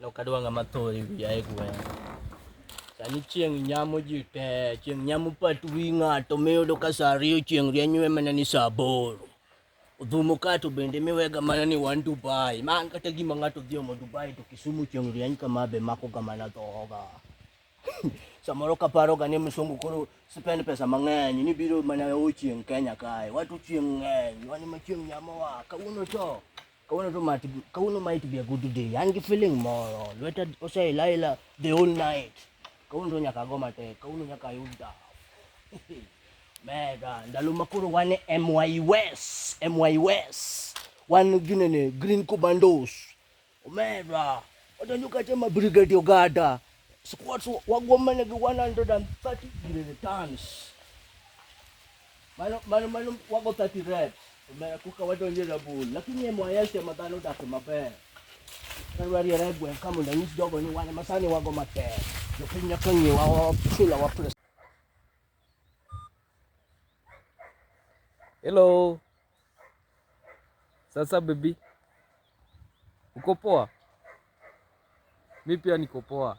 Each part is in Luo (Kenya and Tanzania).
Nok adwa ng'ama tho e wiya e gweng'. Sani chieng' nyamo ji te, chieng' nyamo pat wi ng'ato miyudo ka sa ariyo chieng' rieny iwe mana ni sa aboro. Odhumo ka to bende miwega mana ni wan Dubai. Ma an kata gima ng'ato dhi omo Dubai to Kisumu chieng' rieny kama be makoga mana dhoga. Samoro kaparoga ni msungu koro spend pesa mang'eny ni biro mana o chieng' Kenya kae. Watu chieng' ng'eny, wan ema chieng' nyamowa. Kawuono to Kawuono to might be, kawuono might be a good day. An gi feeling moro. Lweta oseilaila the whole night. Kawuono to nyaka go matek. Kawuono nyaka ayud dhaw. Mega, ndalo ma koro wan e MY West, MY West. Wan ginene Green Commandos. Mega, odonjo kata ma Brigade Ogada. Squads wagwom mana gi 130 ginene tons. Mano mano mano wago 30 reps. Omera kuka wadonje rabul. Lakini ye mwayel tema dhano dak maber. Kar ari re gwen kama na nyis jogo ni wan masani wago matek. Jo piny nyaka ngi wa wa sila wa pres. Hello. Sasa baby. Uko poa? Mimi pia niko poa.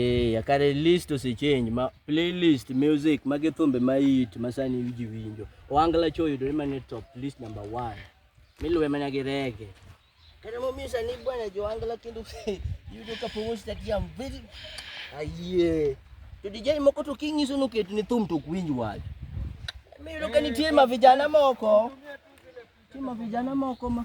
Eh, kare list ose change ma playlist music mage thumbe ma hit ma sani ji winjo. Ohangla cho yudore mane top list number 1. Miluwe mana gi reggae. Kare mo misa ni bwana jo Ohangla kendo yudo ka pomo stadium very ayie. To DJ moko to kinyiso no ket ni thum to kwinj wach. Miyudo ka nitie ma vijana moko. Nitie ma vijana moko ma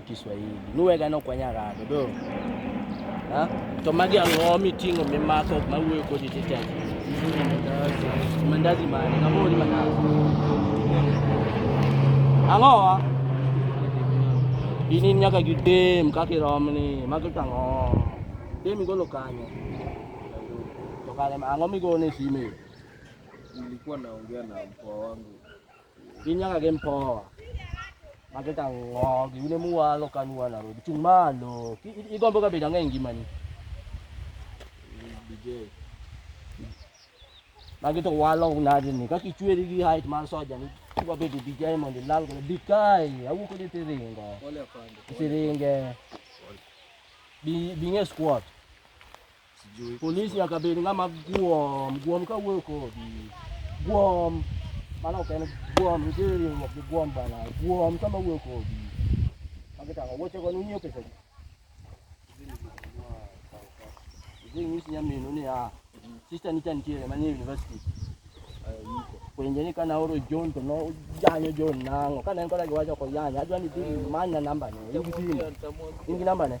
Kiswahili nuwega nokwanya ng'ato do to magi ang'o miting'o mimako mawuoyo kodi titech mandazi mane kamori mandazi ang'owa inin nyaka gidem kaka iromni magi to ang'o dem igolo kanyo to kare ang'o migone sime nilikuwa naongea na mkoa wangu Ginyaka gi mpoa mage ka ng'o giwine muwalo ka nuwa na robi chung' malo Ki- i- igombo ka bedo ang'e e ngimani magi to walo nadi ni kaka ichweri gi height mar soja ni kwa bedo DJ mondo ilal godo bi kae awuok ni tiringo tiringe bi bi ng'e squat Polisi nyaka bed ng'ama guom, guom ka wuoyo kodi. Guom, mano ok en guom, nitie riwruok gi guom bana. Guom sama wuoyo kodi. Magi tang'o, wuoche go nunyiew pesa gi. Idhi nyis nyaminu ni ah, sister ni chan tiere manie university. Penje ni kana oro John to no janyo John nango. Kana en koda giwacho ko yanya, adwa ni dhi manya namba ne. In gi simu. In gi namba ne?